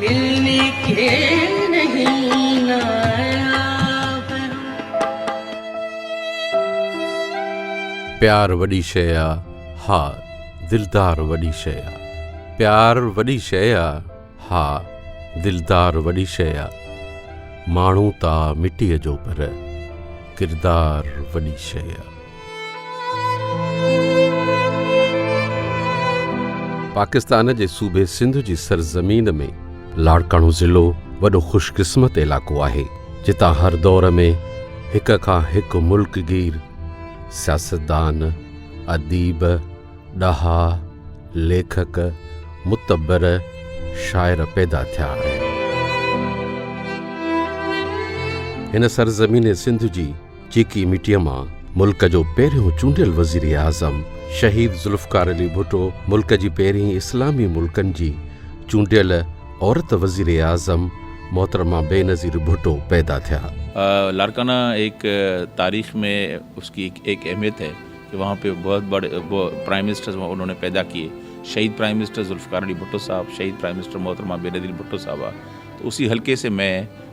ملني کي نهين ناياب هو. پيار وڏي شيء آ، ها، دلدار وڏي شيء آ. پيار وڏي شيء آ، ها، دلدار وڏي شيء آ. ماڻهو ته آ مٽيء جو پر ڪردار وڏي شيء آ. پاڪستان جي صوبي سنڌ جي سرزمين ۾ لاڙڪاڻو ضلعو وڏو خوش قسمت علائقو آهي جتان هر دور ۾ هڪ کان هڪ ملڪ گير سياستدان، اديب، ڏاها، ليکڪ، متبر، شاعر پيدا ٿيا آهن. هن سرزمين سنڌ جي. چيڪي مٽيء مان ملڪ جو پهريون چونڊيل وزيراعظم شهيد ذوالفقار علي ڀٽو ملڪ جي پهرين اسلامي ملڪن جي چونڊيل عورت وزيراعظم محترمه بينظير ڀٽو پيدا ٿيا. لاڙڪانا ايڪ تاريخ مي اس ڪي ايڪ اهميت هي ڪي وهان پي بهت بڙي پرائم منسٽر انهون ني پيدا ڪيي شهيد پرائم منسٽر ذوالفقار علي ڀٽو صاحب شهيد پرائم منسٽر محترمه بينظير ڀٽو صاحبه تو اسي حلقي سي مين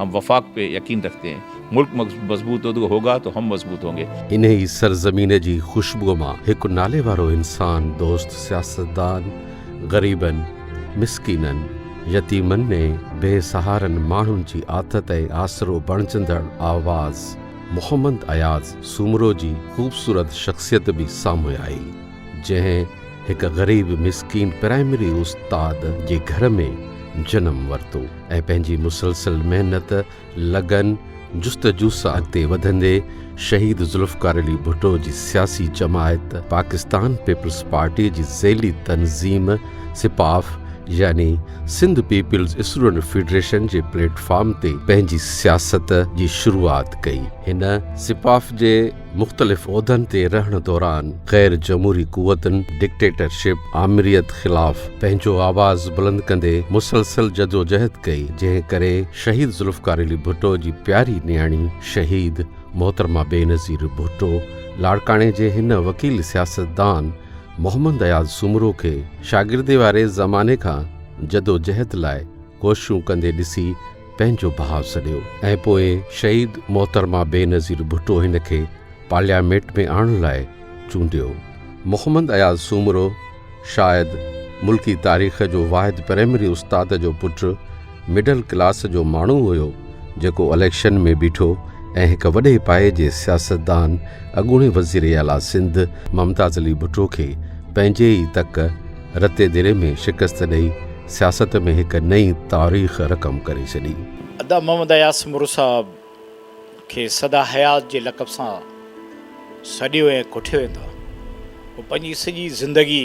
هم وفاق پي يقين رکتي هين. ملڪ مضبوط هو تو هوگا تو هم مضبوط هونگي. انهي سرزمين جي خوشبوء مان هڪ ناليوارو انسان دوست سياستدان غريبن، مسڪينن، يتيمن ۽ بي سهارن ماڻهن جي آٿت ۽ آسرو بڻجندڙ آواز محمد اياز سومرو جي خوبصورت شخصيت به سامهون آئي. جنهن هڪ غريب مسڪين پرائمري استاد جي گهر ۾ جنم ورتو ۽ پنهنجي مسلسل محنت، لگن، جستجوسان اڳتي وڌندي شهيد ذوالفقار علي ڀٽو جي سياسي جماعت پاڪستان پيپلز پارٽي جي ذيلي تنظيم سپاف يعني سنڌ پيپلز اسٽوڊنٽ فيڊريشن جي پليٽ فارم تي پنهنجي سياست جي شروعات ڪئي. هن سپاف جي مختلف عهدن تي رهڻ دوران غير جمهوري قوتن، ڊڪٽيٽرشپ، آمريت خلاف پنهنجو آواز بلند ڪندي مسلسل جدوجهد ڪئي جنهن ڪري شهيد ذوالفقار علي ڀٽو جي پياري نياڻي شهيد محترمه بينظير ڀٽو لاڙڪاڻي جي هن وڪيل سياستدان محمد اياز سومرو کي شاگردي واري زماني کان جدوجهد لاء ڪوششون ڪندي ڏسي پنهنجو ڀاء سڏيو ۽ پوء شهيد محترمه بينظير ڀٽو هن کي پارلياميٽ ۾ آڻڻ لاء چونڊيو. محمد اياز سومرو شايد ملڪي تاريخ جو واحد پرائمري استاد جو پٽ مڊل ڪلاس جو ماڻهو هيو جيڪو اليڪشن ۾ بيٺو ۽ هڪ وڏي پائي جي سياستدان اڳوڻي وزير اعليٰ سنڌ ممتاز علي ڀٽو کي پنهنجي ئي تڪ رتي دري ۾ شڪست ڏئي سياست ۾ هڪ نئين تاريخ رقم ڪري ڇڏي. ادا محمد اياز مرو صاحب کي سدا حيات جي لقب سان سڏيو ۽ ڪوٺيو ويندو آهي. هو پنهنجي سڄي زندگي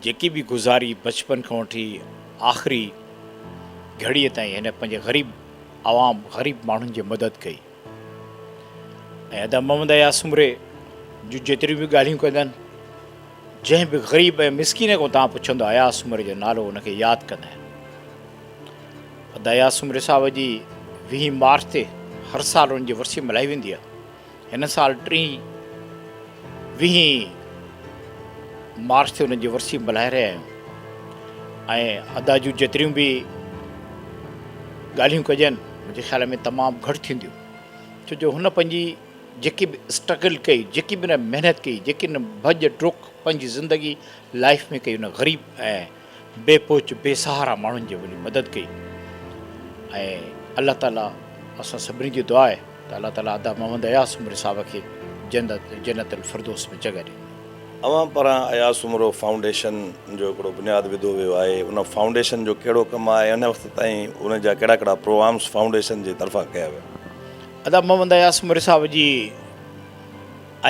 جيڪي به گذاري بچپن کان وٺي آخري گهڙيء تائين هن پنهنجي غريب عوام غريب ماڻهن جي مدد ڪئي. ۽ ادا محمد اياز سومري جون جيتريون به ڳالهيون ڪندا آهن، جنهن به غريب ۽ مسڪين کان توهان پڇندو اياز سومري جو نالو ان کي ياد ڪندا آهن. ادا اياز سومري صاحب جي ويهين مارچ تي هر سال ان جي ورسي ملهائي ويندي آهي. هن سال ٽئين ويهين مارچ تي ان جي ورسي ملهائي رهيا آهيون ۽ ادا جون جيتريون به ڳالهيون ڪجن منهنجي خيال ۾ تمام گهٽ ٿينديون ڇو جو هن پنهنجي جيڪي به اسٽرگل ڪئي جيڪي به هن محنت ڪئي جيڪي هن ڀڄ ڊک پنهنجي زندگي لائف ۾ ڪئي هن غريب ۽ بي پهچ بي سهارا ماڻهن جي وڃي مدد ڪئي ۽ الله تعالي اسان سڀني جي دعا آهي ته الله تعالي ادا محمد اياز سومري صاحب کي جنت جنت الفردوس ۾ جڳهه ڏي اوهان پاران اياز سومرو فائونڊيشن جو هڪڙو بنياد وڌو ويو آهي، ان فائونڊيشن جو ڪهڙو ڪم آهي ۽ هن وقت تائين ان جا ڪهڙا ڪهڙا پروامس فائونڊيشن جي طرفان ڪيا ويا؟ ادب محمد اياز سومري صاحب جي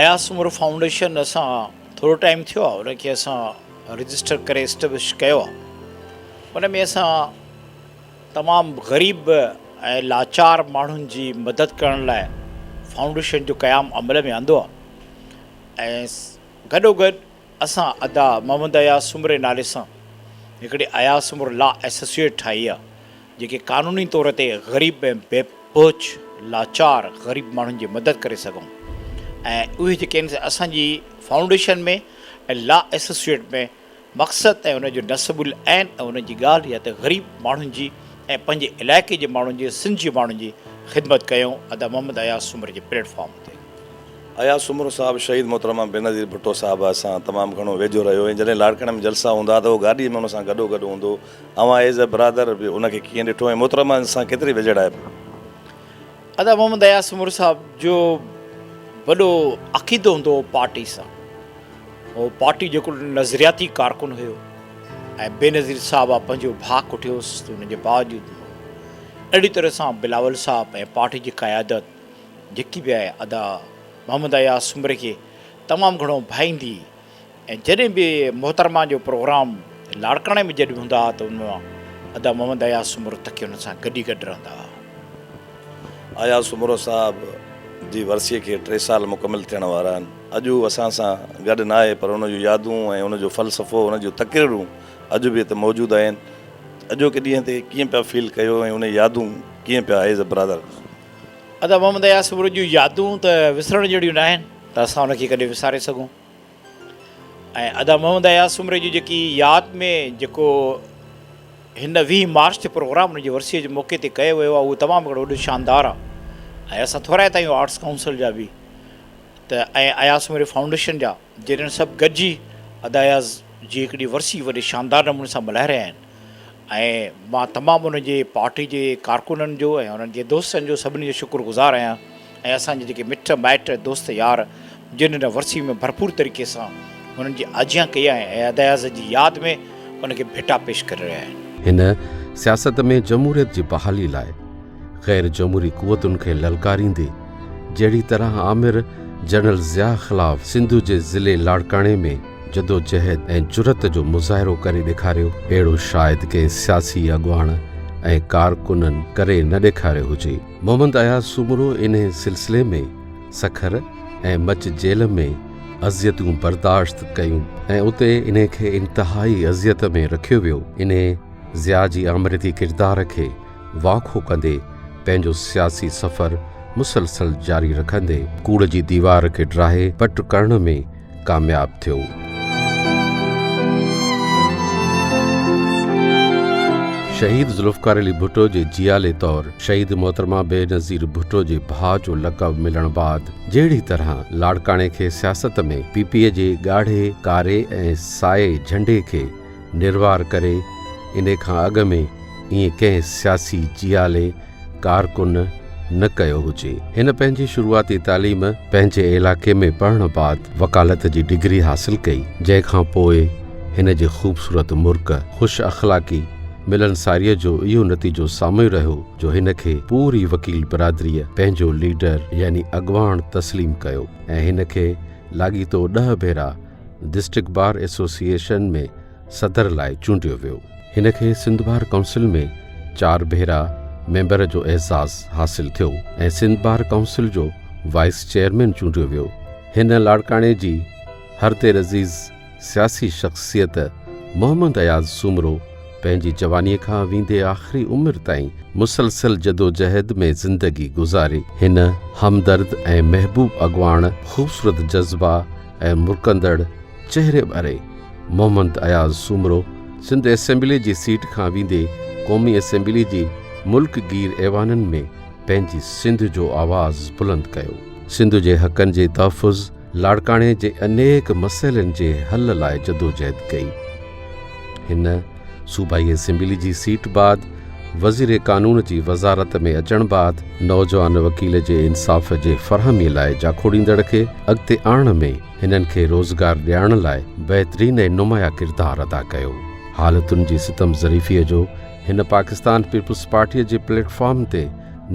اياز سومرو فائونڊيشن اسان ٿورو ٽائيم ٿيو آهي ان کي اسان رجسٽر ڪري اسٽبلش ڪيو آهي ان ۾ اسان تمام غريب ۽ لاچار ماڻهن جي مدد ڪرڻ لاء فائونڊيشن جو قيام عمل ۾ آندو آهي. ۽ گڏوگڏ اسان ادا محمد اياز سومري نالي سان هڪڙي اياز سومرو لا ايسوسيئيٽ ٺاهي آهي جيڪي قانوني طور تي غريب ۽ بي پهچ لاچار غريب ماڻهن جي مدد ڪري سگهون ۽ اهي جيڪي آهن اسان جي فائونڊيشن ۾ ۽ لا ايسوسيئيٽ ۾ مقصد ۽ ان جو نصب العين ۽ ان جي ڳالهه اها ته غريب ماڻهن جي ۽ پنهنجي علائقي جي ماڻهن جي سنڌ جي ماڻهن جي خدمت ڪيائون ادا محمد اياز سومري جي پليٽ فارم تي. اياز سومرو صاحب شهيد محترمه بينظير ڀٽو صاحبه سان تمام گهڻو ويجهو رهيو ۽ جڏهن لاڙڪاڻي ۾ جلسا هوندا ها ته اهو گاڏي ۾ ان سان گڏو گڏ هوندو اوهان ايز اي برادر به ان کي ڪيئن ڏٺو ۽ محترمه سان ڪيتري ويجهڙائپ هئي. ادا محمد اياز سومرو صاحب جو وڏو عقيدو هوندو هو پارٽي سان هو پارٽي جو هڪڙو نظرياتي ڪارڪن هيو ۽ بينظير صاحب آ پنهنجو ڀاء ڪٺيوس ته ان جي باوجود هو اهڙي طرح سان بلاول صاحب ۽ پارٽي جي قيادت جيڪي به آهي ادا محمد اياز سومري کي تمام گهڻو ڀائيندي ۽ جڏهن به محترمه جو پروگرام لاڙڪاڻي ۾ جڏهن به هوندا ها ته ان مان ادا محمد اياز سومرو تڪي انهن سان گڏ ئي گڏ رهندا ها. اياز سومرو صاحب جي ورسيء کي ٽي سال مڪمل ٿيڻ وارا آهن. اڄ هو اسان سان گڏ ناهي پر ان جون يادون ۽ ان جو فلسفو ان جون تقريرون اڄ به هتي موجود آهن. اڄوڪي ڏينهن تي ڪيئن پيا فيل ڪيو ۽ انهي يادون ڪيئن پيا ايز برادر. ادا محمد اياز سومرو جون يادون ته وسرڻ جهڙيون ناهن ته اسان ان کي ڪڏهن وساري سگهون. ۽ ادا محمد اياز سومري جي جيڪي ياد ۾ جيڪو هن ويهه مارچ تي پروگرام ان جي ورسيء جي موقعي تي ڪيو ويو آهي اهو تمام هڪڙو وڏو شاندار آهي ۽ اسان ٿورائي تائين آرٽس ڪائونسل جا به ته ۽ اياز سومري فائونڊيشن جا جنهن سڀ گڏجي ادا اياز جي هڪڙي ورسي وڏي شاندار نموني سان ملهائي رهيا آهن ۽ مان تمام انهن جي پارٽي جي ڪارڪنن جو ۽ انهن جي دوستن جو سڀني جو شڪر گذار آهيان ۽ اسان جي جيڪي مٽ مائٽ دوست يار جن هن ورسي ۾ ڀرپور طريقي سان هنن جي آجيان ڪئي آهي ۽ اداياز جي ياد ۾ ان کي ڀيٽا پيش ڪري رهيا آهن. هن سياست ۾ جمهوريت جي بحالي لاء غير جمهوري قوتن کي للڪاريندي جهڙي طرح آمر جنرل ضياء خلاف سنڌ جي ضلعي لاڙڪاڻي ۾ جدوجهد ۽ جرئت جو مظاهرو ڪري ڏيکاريو، اهڙو شايد ڪنهن سياسي اڳواڻ ۽ ڪارڪنن ڪري نه ڏيکاريو هجي. محمد اياز سومرو انهي سلسلي ۾ سکر ۽ مچ جيل ۾ اذيتون برداشت ڪيون ۽ اتي انهي کي انتهائي اذيت ۾ رکيو ويو. انهي ضياء جي آمريتي ڪردار کي واکو ڪندي پنهنجو سياسي سفر مسلسل جاري رکندي، ڪوڙ جي ديوار کي ڊاهي پٽ ڪرڻ ۾ ڪامياب ٿيو. شهيد ذوالفقار علي ڀٽو جي جيالي طور شهيد محترمه بينظير ڀٽو جي ڀاء جو لقب ملڻ بعد جهڙي طرح لاڙڪاڻي کي سياست ۾ پي پي جي ڳاڙهي ڪاري ۽ سائي جهنڊي کي نروار ڪري انهي کان اڳ ۾ ائين ڪنهن سياسي جيالي ڪارڪن نه ڪيو هجي. هن پنهنجي شروعاتي تعليم پنهنجي علائقي ۾ پڙهڻ بعد وڪالت جي ڊگري حاصل ڪئي جنهن کان پوء هن جي خوبصورت مرڪ، خوش اخلاقي، ملنساريء جو اهو نتيجو سامهون رهيو جو هن کي پوري وڪيل برادريء پنهنجو ليڊر يعني اڳواڻ تسليم ڪيو ۽ هن کي لاڳيتو ڏهه ڀيرا ڊسٽرڪٽ بار ايسوسيئيشن ۾ صدر لاء چونڊيو ويو. هن کي سنڌ بار ڪائونسل ۾ چار ڀيرا ميمبر جو اعزاز حاصل ٿيو ۽ سنڌ بار ڪائونسل جو وائيس چيئرمين چونڊيو ويو. هن لاڙڪاڻي جي هر دير عزيز سياسي شخصيت محمد اياز سومرو پنهنجي جوانيء کان ويندي آخري عمر تائين مسلسل جدوجهد ۾ زندگي گذاري. هن همدرد ۽ محبوب اڳواڻ خوبصورت جذبا، ۽ مرڪندڙ چهري واري محمد اياز سومرو سنڌ اسيمبلي جي سيٽ کان ويندي قومي اسيمبلي جي ملڪ گير ايوانن ۾ پنهنجي سنڌ جو آواز بلند ڪيو. سنڌ جي حقن جي تحفظ لاڙڪاڻي جي انيڪ مسئلن جي حل لاء جدوجهد ڪئي. هن. صوبائي اسيمبلي جي سيٽ بعد وزير قانون جي وزارت ۾ اچڻ بعد نوجوان وڪيل جي انصاف جي فراهمي لاء جاکوڙيندڙ کي اڳتي آڻڻ ۾ هنن کي روزگار ڏيارڻ لاء بهترين ۽ نمايان ڪردار ادا ڪيو. حالتن جي ستم ظريفيء جو هن پاڪستان پيپلز پارٽيء جي پليٽ فارم تي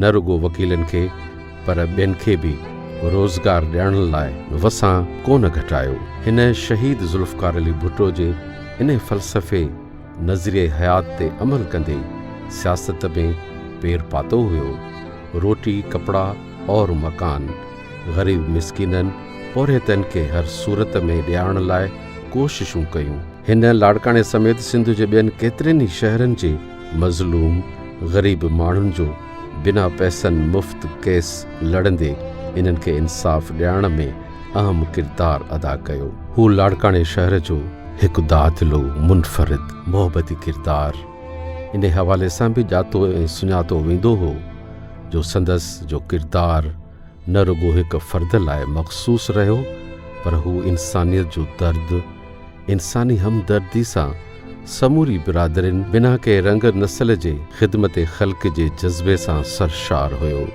نه رڳو وڪيلن کي پر ٻين کي به روزگار ڏيڻ لاء وسان ڪونه گهٽايو. هن شهيد ذوالفقار علي ڀٽو جي ان فلسفي نظريه حيات تي عمل ڪندي سياست ۾ پير پاتو هيو. روٽي، ڪپڙا اور مڪان غريب مسڪينن، پورهيتن کي هر صورت ۾ ڏيارڻ لاء ڪوششون ڪيون. هن لاڙڪاڻي سميت سنڌ جي ٻين ڪيترن ئي شهرن جي مظلوم غريب ماڻهن جو بنا پئسن مفت ڪيس لڙندي انهن کي انصاف ڏيارڻ ۾ اهم ڪردار ادا ڪيو. هو لاڙڪاڻي شهر جو هڪ دادلو، منفرد، محبتي ڪردار انهي حوالي سان به ڄاتو ۽ سڃاتو ويندو هو جو سندس جو ڪردار، نه رڳو هڪ فرد لاء مخصوص رهيو پر هو انسانيت جو درد، انساني همدردي سان سموري برادرين بنا ڪنهن رنگ نسل جي خدمت خلق جي جذبي سان سرشار هيو.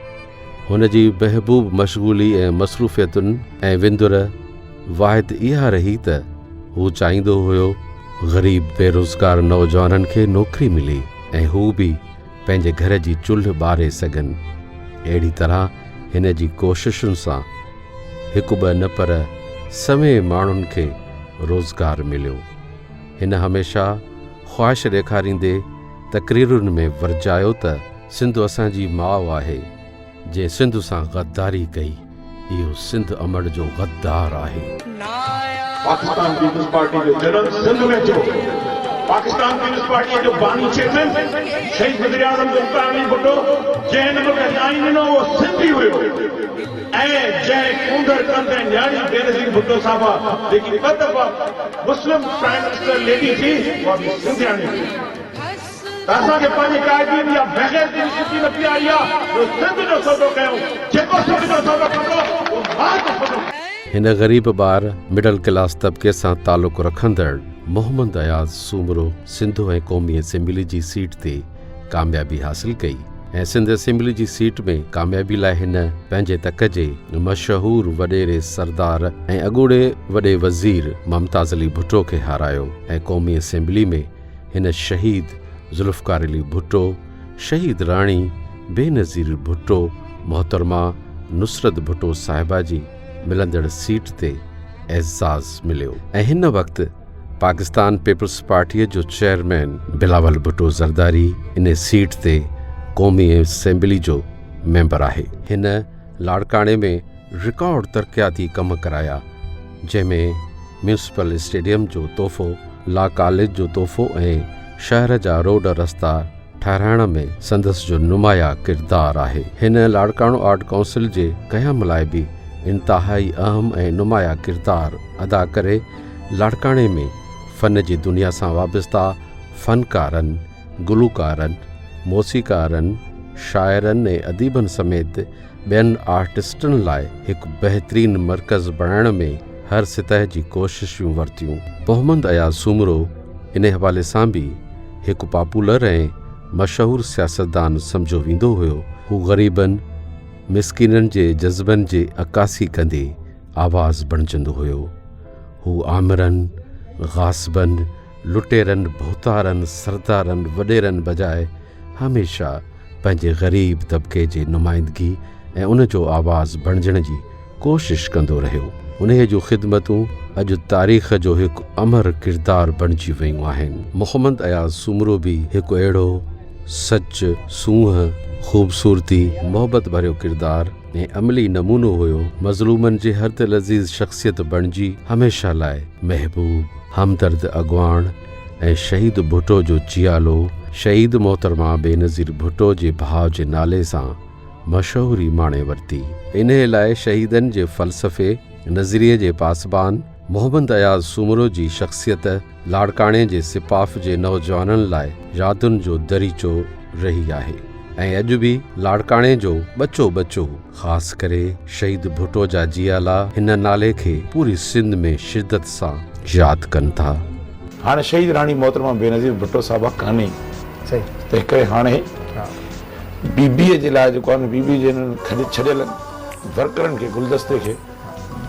هن جي محبوب مشغولي ۽ مصروفيتن ۽ وندر واحد اها رهي ته هو چاهيندو هيو غريب بيروزگار نوجوانن کي نوڪري ملي ۽ هو به پنهنجي گهر جي چلهه ٻاري سگهن. اهڙي طرح هن جي ڪوششن سان هڪ ٻه نه پر سوين ماڻهن کي روزگار مليو. هن هميشه خواهش ڏيکاريندي تقريرن ۾ ورجايو ته سنڌ اسان جي ماء آهي. جنهن سنڌ سان غداري ڪئي اهو سنڌ امڙ جو غدار آهي. پاڪستان پيپلز پارٽي جو جنم سنڌ ۾ ٿيو. پاڪستان پيپلز پارٽيء جو باني چيئرمين شهيد وزيراعظم ذوالفقار علي ڀٽو جنهن هن ملڪ کي سائين ڏنو اهو سنڌ ئي هيو ۽ جنهن ڪونڌر ڪنڌ ۽ نياڻي بينظير ڀٽو صاحبه جيڪي ٻه دفعا مسلم پرائيم منسٽر ليڊي ٿي اها به سنڌياڻي ٿي. ته اسان کي پنهنجي قائدين جي اها بيغيرتي به سٺي نه پياري آ جو سنڌ جو سودو ڪيائون، جيڪو سنڌ جو سودو ڪندو اهو مال جو سودو ڪندو. هن غريب ٻار، مڊل ڪلاس طبقي سان تعلق رکندڙ محمد اياز سومرو سنڌو ۽ قومي اسيمبلي جي سيٽ تي ڪاميابي حاصل ڪئي ۽ سنڌ اسيمبلي جي سيٽ ۾ ڪاميابي لاء هن پنهنجي تڪ جي مشهور وڏيري سردار ۽ اڳوڻي وڏي وزير ممتاز علي ڀٽو کي هارايو ۽ قومي اسيمبلي ۾ هن شهيد ذوالفقار علي ڀٽو، شهيد راڻي بينظير ڀٽو، محترمه نصرت ڀٽو صاحبه جي ملندڙ سيٽ تي اعزاز مليو ۽ هن وقت پاڪستان پيپلز پارٽيء جو چيئرمين بلاول ڀٽو زرداري ان سيٽ تي قومي اسيمبلي جو ميمبر آهي. هن لاڙڪاڻي ۾ رڪارڊ ترقياتي ڪم ڪرايا، جنهن ۾ ميونسپل اسٽيڊيم جو تحفو، لا ڪاليج جو تحفو ۽ شهر جا روڊ رستا ٺهرائڻ ۾ سندس جو نمايا ڪردار آهي. هن لاڙڪاڻو آرٽ ڪائونسل جي قيام لاء به انتهائي اهم ۽ نمايا ڪردار ادا ڪري لاڙڪاڻي ۾ فن جي دنيا سان وابسته فنڪارن، گلوڪارن، موسيقارن، شاعرن ۽ اديبن سميت ٻين آرٽسٽن لاء هڪ بهترين مرڪز بڻائڻ ۾ هر سطح جي ڪوششون ورتيون. محمد اياز سومرو ان حوالي سان به هڪ پاپولر ۽ مشهور سياستدان سمجهيو ويندو هيو. هو غريبن، مسڪينن جي جذبن جي عڪاسي ڪندي آواز بڻجندو هيو. هو آمرن، غاصبن، لٽيرن، ڀوتارن، سردارن، وڏيرن بجاء، هميشه پنهنجي غريب طبقي جي نمائندگي ۽ ان جو آواز بڻجڻ جي ڪوشش ڪندو رهيو. انهيء جون خدمتون اڄ تاريخ جو هڪ امر ڪردار بڻجي ويون آهن. محمد اياز سومرو به هڪ اهڙو سچ، سونهن، خوبصورتي، محبت ڀريو ڪردار ۽ عملي نمونو هيو، مظلومن جي هردلعزيز شخصيت بڻجي هميشه لاء محبوب، همدرد اڳواڻ، ۽ شهيد ڀٽو جو جيالو شهيد محترمه بينظير ڀٽو جي ڀاء جي نالي سان مشهوري ماڻي ورتي. انهيء لاء شهيدن جي فلسفي، نظريي جي پاسبان محمد اياز سومرو جي شخصيت لاڙڪاڻي جي سپاف جي نوجوانن لاء يادن جو دريچو رهي آهي ۽ اڄ به لاڙڪاڻي جو ٻچو ٻچو، خاص ڪري شهيد ڀٽو جا جيالا هن نالي کي پوري سنڌ ۾ شدت سان ياد ڪن ٿا. هاڻي شهيد راڻي محترمه بينظير ڀٽو صاحبه ڪانهي تنهن ڪري هاڻي بي بي اي جي لاء جيڪو آهي نه بي بي اي جي هنن کڄ ڇڏيل ورڪرن کي گلدستي کي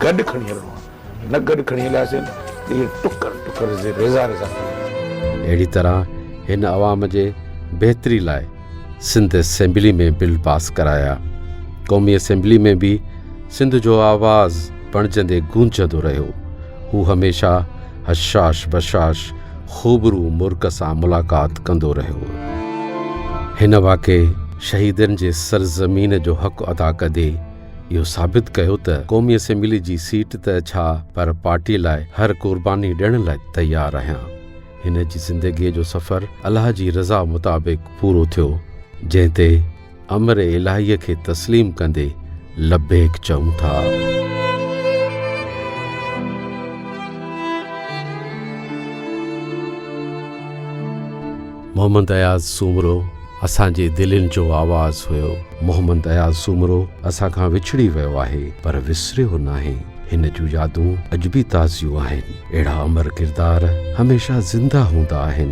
گڏ کڻي هلڻو آهي. نه گڏ کڻي هلياسين ته اهي ٽڪر ٽڪر زي ريزا ريزا ٿي ويا. اهڙي طرح هن عوام جي بهتري لاء سنڌ اسيمبلي ۾ بل پاس ڪرايا. قومي اسيمبلي ۾ به سنڌ جو آواز بڻجندي گونجندو رهيو. هو هميشه حشاش بشاش خوبرو مرڪ سان ملاقات ڪندو رهيو. هن واقعي شهيدن جي سرزمين جو حق ادا ڪندي اهو ثابت ڪيو ته قومي اسيمبلي جي سيٽ ته ڇا پر پارٽي لاء هر قرباني ڏيڻ لاء تيار آهيان. هن جي زندگيء جو سفر الله جي رضا مطابق پورو ٿيو، جنهن تي امر الاهيء کي تسليم ڪندي لبيڪ چئون ٿا. محمد اياز سومرو اسان جي دلين جو آواز هيو. محمد اياز سومرو اسان کان وڇڙي ويو آهي پر وسريو ناهي. هن جون يادون اڄ به تازيون آهن. اهڙا امر ڪردار هميشه زنده هوندا آهن.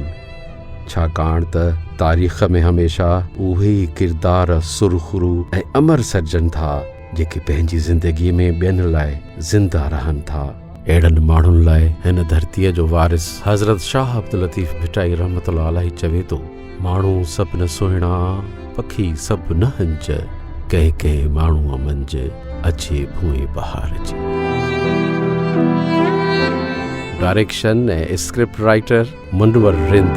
ڇاڪاڻ ته تاريخ ۾ هميشه اهي ئي ڪردار سرخرو ۽ امر سڏجن ٿا جيڪي پنهنجي زندگي ۾ ٻين لاء زنده رهن ٿا. اهڙن ماڻهن لاء هن ڌرتيء جو وارث حضرت شاهه عبداللطيف ڀٽائي رحمة الله عليه چوي ٿو. ماڻهو سڀ نه سهڻا، پکي سڀ نه هنج، ڪنهن ڪنهن ماڻهوء منجھ، اچي ڀونء بهار جي. Direction ۽ script writer Munawar Rind.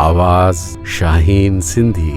آواز شاهين سنڌي.